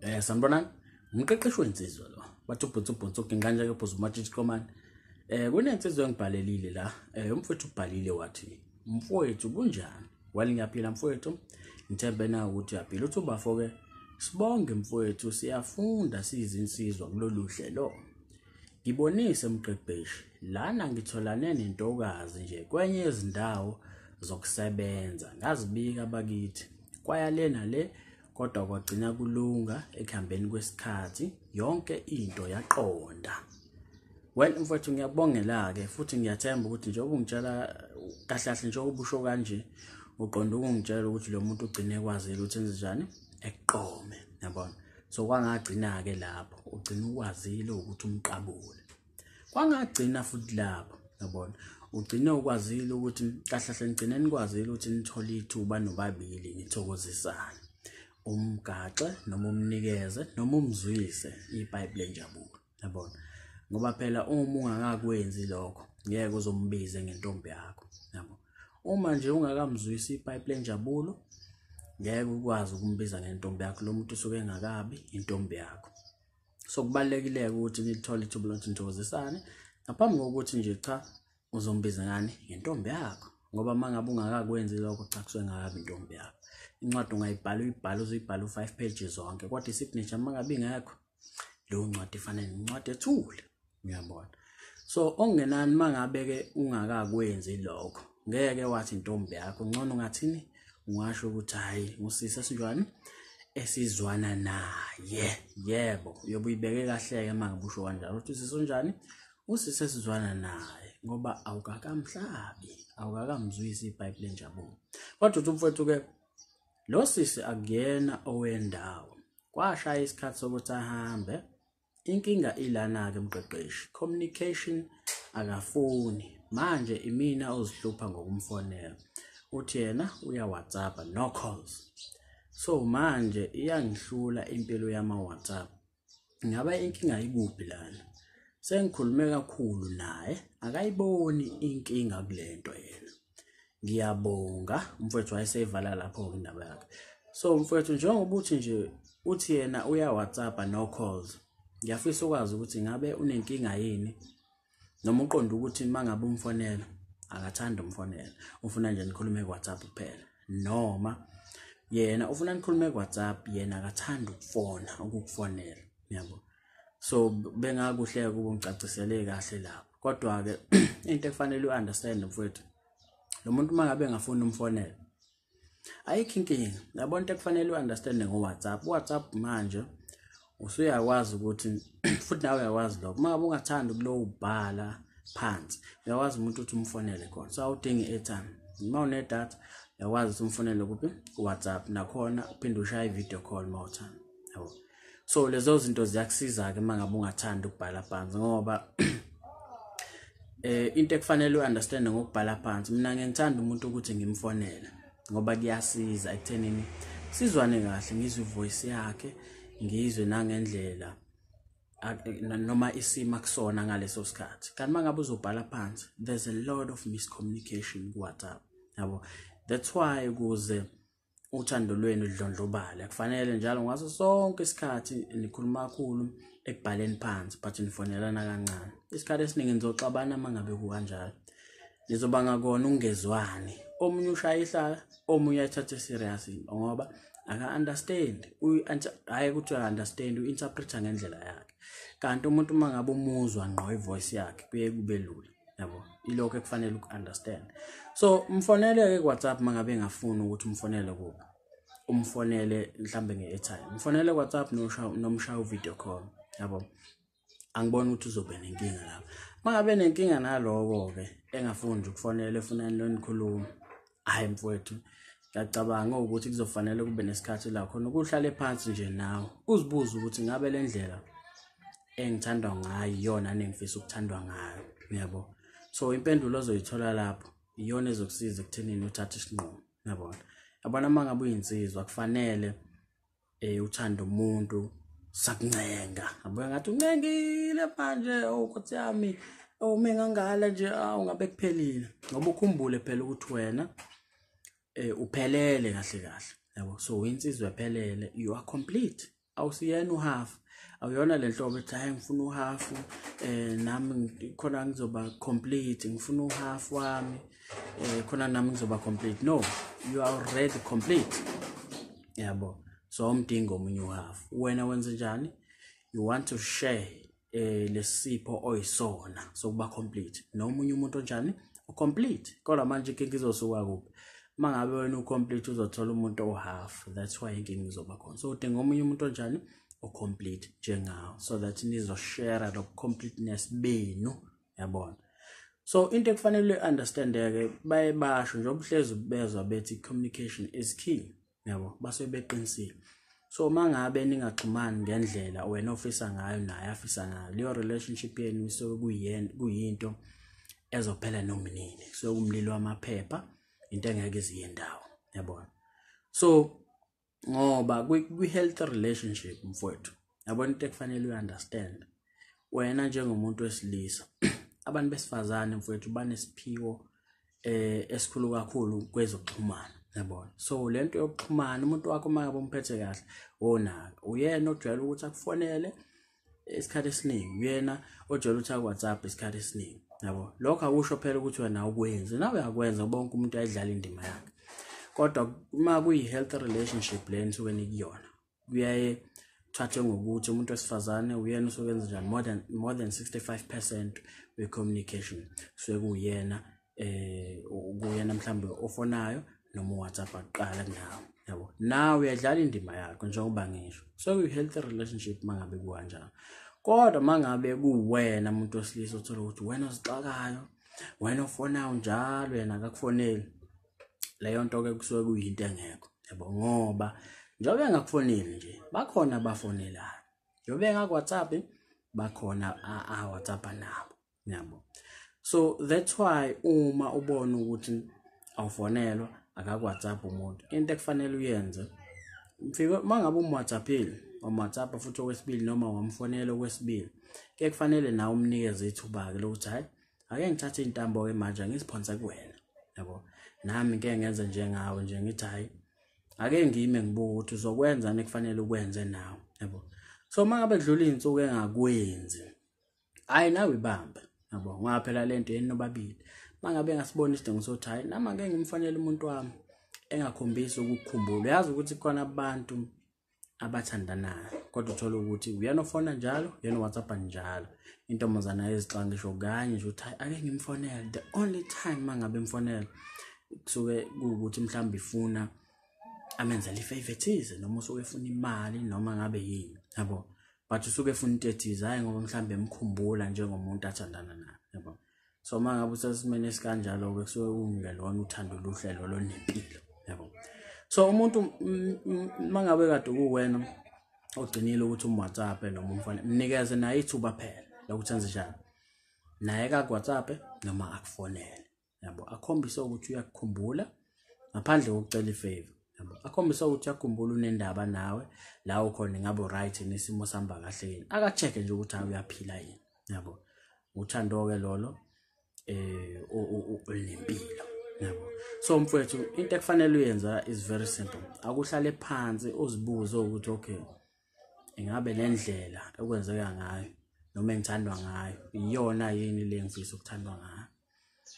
Eh sanibonani. Umqeqeshi wensizwa lo. Bathi ubhutsu ubhutsu uginqanje ke bhuzu umatshitshi komani. Eh kunensizwa engibhalelile la. Eh umfowethu ubhalile wathi mfowethu kunjani? Wali ngiyaphila mfowethu. Ngithembe na ukuthi uyaphila. Uthi ubafo ke sibonge mfowethu siyafunda siyizinsizwa kulolu hlelo. Ngibonise mqeqeshi, lana ngitholane nentokazi nje kwenye yezindawo zokusebenza. Ngazibika bakithi, kwaya le nale kodwa kwagcina kulunga ekuhambeni kwesikhathi yonke into yaqonda. Well mfowethu ngiyabongela-ke futhi ngiyathemba ukuthi njengoba ungitshela kahle kahle njengoba ubusho kanje uqonda ukungitshela ukuthi lo muntu ugcine ekwazile ukuthi enze njani ekuqome yabona so kwangagcina-ke lapho ugcina ukwazile ukuthi umqabule kwangagcina futhi lapho yabona ugcine ukwazile ukuthi kahlahle ngigcine nikwazile ukuthi nithole ithuba nobabili nithokozisane umgaxe noma umnikeze noma umzwise ibhayibhile enjabulo yabona ngoba phela uma ungakakwenzi lokho ngeke uzombize ngentombi yakho yabo uma nje ungakamzwisi ipipe lenjabulo ngeke ukwazi ukumbiza ngentombi yakho lo muntu usuke engakabi intombi yakho so kubalekile ukuthi nithole ithuba lokuthi nithokozisane ngaphambi kokuthi nje cha uzombiza ngani ngentombi yakho ngoba uma ngabe ungakakwenzi lokho cha kusuke ngakabi intombi yakho incwadi ungayibhala uyibhala uzoyibhala u-five pages zonke kodwa i-signature uma ngabe ingekho leyo ncwadi ifanele nencwadi ethule uyabona so okungenani mangabe-ke ungakakwenzi lokho ngeke wathi intombi yakho ngcono ungathini ungasho ukuthi hhayi ngusisi esinjwani esizwana naye yebo uyobe uyibeke kahle-ke mangabe usho kanjalo ukuthi usisi onjani usisi esizwana naye ngoba awukakamhlabi awukakamzwisi ibhayibhile enjabulo kodwa uthi umfowethu-ke lo sisi akuyena owendawo kwashaya isikhathi sokuthi ahambe inkinga ilana-ke mqeqeshi communication akafuni manje imina ozihlupha ngokumfonela uthi yena uyawhatsappa no calls so manje iyangihlula impilo yama-whatsapp ngaba inkinga ikuphi lana sengikhulume kakhulu naye akayiboni inkinga kule nto yena ngiyabonga umfowethu wayeseyivala lapho-ke indaba yakhe so mfowethu njengoba uthi nje uthi yena uya-whatsappa no calls ngiyafisa ukwazi ukuthi ngabe unenkinga yini noma uqonda ukuthi uma ngabe umfonela akathanda umfonela ufuna nje nikhulume ku-whatsapp kuphela noma yena ufuna nikhulume ku-whatsapp yena akathanda ukufona ukukufonela yabo so bengakuhle ukuba ngicacisele kahle lapho kodwa ke into efanele uunderstand mfowethu lo muntu uma ngabe engafuni umfonela ayikho inkinga yabo into ekufanele uunderstand ngo-whatsapp uwhatsapp manje usuyakwazi ukuthi futhi nawe uyakwazi lokho uma ngabe ungathandi ukulowo ubhala phansi uyakwazi umuntu ukuthi umfonele khona so awudingi i-airtime uma unedatha uyakwazi ukuthi umfonele kuphi ku-whatsapp nakhona uphinde ushaye i-video call uma uthanda yabo so lezo zinto ziyakusiza-ke uma ngabe ungathandi ukubhala phansi ngoba eh into ekufanele uunderstand ngokubhala phansi mina ngengithanda umuntu ukuthi ngimfonele ngoba kuyasiza ekuthenini sizwane kahle ngizwe ivoice yakhe ngizwe nangendlela noma isima kusona ngaleso sikhathi kanti mangabe uzobhala phansi there's a lot of miscommunication ku WhatsApp yabo that's why kuze uthando lwenu ludlondlobale kufanele njalo ngaso sonke isikhathi nikhuluma kakhulu ekubhaleni phansi but nifonelana kancane isikhathi esiningi nizoxabana uma ngabe kukanjalo nizobanga kona ungezwani omunye ushaya ihlala omunye ayithathe serious into ngoba aka-understand hhayi ukuthi uya-understand u-interpreta ngendlela yakhe kanti umuntu uma ngabe umuzwa ngqo ivoice yakhe kuye kube lula yabo ilokho ekufanele uku-understand so mfonele-ke ku-whatsapp uma ngabe engafuni ukuthi umfonele kuba umfonele mhlawumbe nge-airtime mfonele ku-whatsapp nomshaya u-video call yabo angiboni ukuthi uzobe nenkinga lapho uma ngabe nenkinga naloko-ke engafuni nje ukufonela efunani lonikhuluma hhayi mfowethu ngiyacabanga ukuthi kuzofanele kube nesikhathi la khona ukuhlale phansi nje nawe uzibuze ukuthi ngabe le ndlela engithandwa ngayo iyona nengifisa ukuthandwa ngayo uyabo so impendulo ozoyithola lapho iyona ezokusiza ekuthenini uthathe isinqumo yabona yabona uma ngabe uyinsizwa kufanele eh uthanda umuntu sakuncenga abuya ngathi uncengile manje oh nkosi yami oh mengangala nje awu ngabe kuphelile ngoba ukhumbule phela ukuthi wena eh uphelele kahle kahle yabo so insizwa ephelele you are complete awusiyena uhalf awuyona le nhlobo ethi hayi ngifuna uhafu eh nami khona ngizoba complete ngifuna uhafu wami eh khona nami ngizoba complete no you are already complete yabo so umdinga omunye uhafu wena wenze njani you want to share eh lesipho oyisona sokuba complete nomunye umuntu onjani ucomplete kodwa manje inkinga izosuka kuphi uma ngabe wena ucomplete uzothola umuntu ohalf that's why inkinga izoba khona so udinga omunye umuntu onjani ocomplete njengawo so that nizoshare lo completeness benu yabona so into ekufanele understandeke baye basho njengoba uhlezi bezwa bethi communication is key yabo base beqinisile so uma ngabe ningaxhumani ngendlela wena ofisa ngayo naye afisa ngayo leyo relationship yenu isuke kuyena kuyinto ezophela noma nini so kumlilo wamaphepha into engeke iziye ndawo yabona so ngoba kwi-health relationship mfowethu yabona into ekufanele uyi-understand wena njengomuntu wesilisa abantu besifazane mfowethu banesiphiwo eh esikhulu kakhulu kwezokuxhumana yabona so le nto yokuxhumana umuntu wakho uma ngabe umphethe kahle wonaka uyena ojwayele ukuthi akufonele isikhathi esiningi uyena ojwayele ukuthi akuwhatsapp isikhathi esiningi yabo lokho akusho phela ukuthi wena ukwenzi nawe uyakwenza bonke umuntu ayidlala indima yakhe kodwa uma kuyi-health relationship le nisuke nikuyona kuyaye thathe ngokuthi umuntu wesifazane uyena usuke enza njani more than, more than 65 percent we-communication kusuke kuyena eh ukuyena mhlambe ofonayo noma uWhatsApp aqala kunawe yabo nawe uyadlala indima yakho njengoba ngisho so you healthy relationship mangabe kukanjalo kodwa mangabe kuwena umuntu osilisa othola ukuthi wena ozixakayo wena ofonayo njalo yena akakufoneli leyo nto ke kusuke kuyinto engekho yabo ngoba njengoba engakufoneli nje bakhona abafonelayo njengoba engakwaTsapi bakhona aWhatsApp nabo niyabo so that's why uma ubona ukuthi awufonelwa akakwhatsapp umuntu into ekufanele uyenze mfike uma ngabe umwhatsappile wamwhatsapp futhi okwesibili noma wamfonela okwesibili ke kufanele nawe umnikeze ithuba-ke lokuthi hhayi ake ngithathe iy'ntambo-ke manje angiziphonse kuwena yabo nami ke ngenze njengawe nje ngithi hhayi ake ngime ngibuke ukuthi uzokwenzani ekufanele ukwenze nawe yabo so uma ngabe kudlula iy'nsuku engakwenzi hayi nawe bamba yabo ngoba phela lento yeni nobabili mangabe ngasibona isidingo sokuthi hayi nama ngeke ngimfanele umuntu wami engakhombisi ukukhumbula yazi ukuthi khona abantu abathandanayo kodwa uthole ukuthi uyena ofona njalo uyena whatsapp njalo intombazana ezixwa ngisho kanye nje ukuthi ake ngimfonele the only time mangabe mfonele kusuke kuwukuthi mhlawumbe ifuna amenzela ifavor ethize noma usuke efuna imali noma ngabe yini yabo but usuke efuna into ethize hhayi ngoba mhlawumbe emkhumbula njengomuntu athandana naye yabo so uma ngabe usesimeni esikanjalo-ke kusuke kungelona uthando luhlelo lonempilo yabo so umuntu uma ngabe kade kuwena ogcinile ukuthi umwhatsapp noma umfane mnikeze naye ithuba phela lokuthi enze njani naye kakwhatsapp noma akufonele yabo akhombise ukuthi uyakukhumbula ngaphandle kokucela ifavor yabo akhombise ukuthi uyakukhumbula unendaba nawe la ukhona ngabe right nesimo sihamba kahle yini akacheck nje ukuthi hayi uyaphila yini yabo uthando ke lolo eh olempilo yabo so mfowethu into ekufanele uyenza is very simple akuhlale phansi uzibuze ukuthi okay ingabe le ndlela ekwenzeka ngayo noma engithandwa ngayo iyona yini le ngifisa ukuthandwa ngayo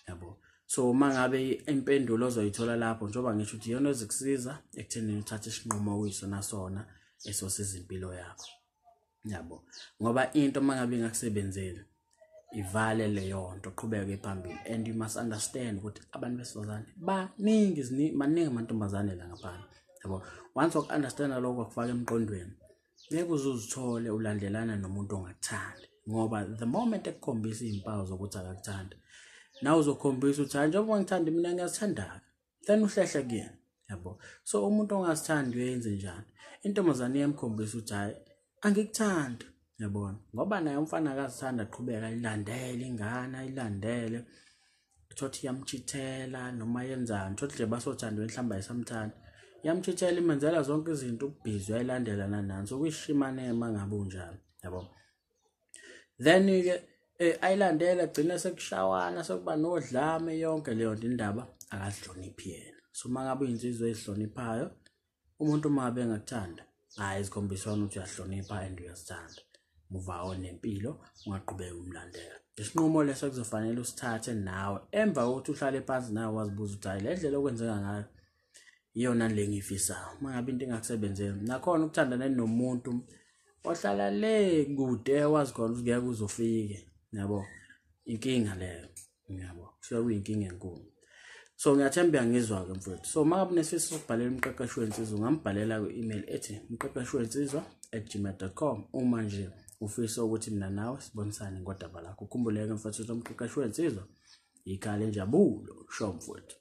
yabo so uma ngabe impendulo ozoyithola lapho njengoba ngisho ukuthi iyona ezikusiza ekuthenini uthathe isinqumo okuyisona sona esosiza impilo yakho yabo ngoba into uma ngabe ingakusebenzeli ivale leyo nto qhubeke phambili and you must understand ukuthi abantu besifazane baningi maningi amantombazane la ngaphandle yabo once waku-understanda lokho wakufaka emqondweni ngeke uze uzithole ulandelana nomuntu ongakuthandi ngoba the moment ekukhombisa iy'mpawu zokuthi akakuthandi nawe uzokhombisa ukuthi hayi njengoba ngithanda mina ngiyazithandaka then uhlehle kuyena yabo so umuntu ongasithandi uyenze njani intombazane iyamkhombisa ukuthi hhayi angikuthandi yabona ngoba naye umfana akazithanda aqhubeka ayilandele ingane ayilandele thothi iyamchithela noma yenzani thothi nje basothandwe mhlawumbe ayisamthandi iyamchithela imenzela zonke izinto ubhizi uyayilandela nanani so kuyishimane uma ngabe unjalo yabo then ke eh, ayilandela gcina sekushawana sokuba nodlame yonke leyo nto indaba akazihloniphi yena so uma ngabe uyinzizwe ezihloniphayo umuntu uma ngabe engakuthanda hhayi zikhombisa wona ukuthi uyahlonipha and uyazithanda muvawo nempilo ungaqhubeki umlandela isinqumo leso kuzofanele usithathe nawe emva kokuthi uhlale phansi nawe wazibuza ukuthi hhayi le ndlela okwenzeka ngayo iyona le ngiyifisayo uma ngabe into ingakusebenzeli nakhona ukuthandana nomuntu ohlala le kude wazi khona ukuthi ngeke uzofike yabo inkinga leyo yabo kusuke kuyinkinga enkulu so ngiyathemba uyangizwa-ke mfowethu so uma ngabe unesifiso sokubhalela umqeqeshi wensizwa ungambhalela kwi-email ethi umqeqeshi wensizwa at gmail com uma nje ufisa ukuthi mina nawe sibonisane ngodaba lakho ukhumbuleke mfowethu ukuthi umqeqeshi wensizwa yikhale njabulo sho mfowethu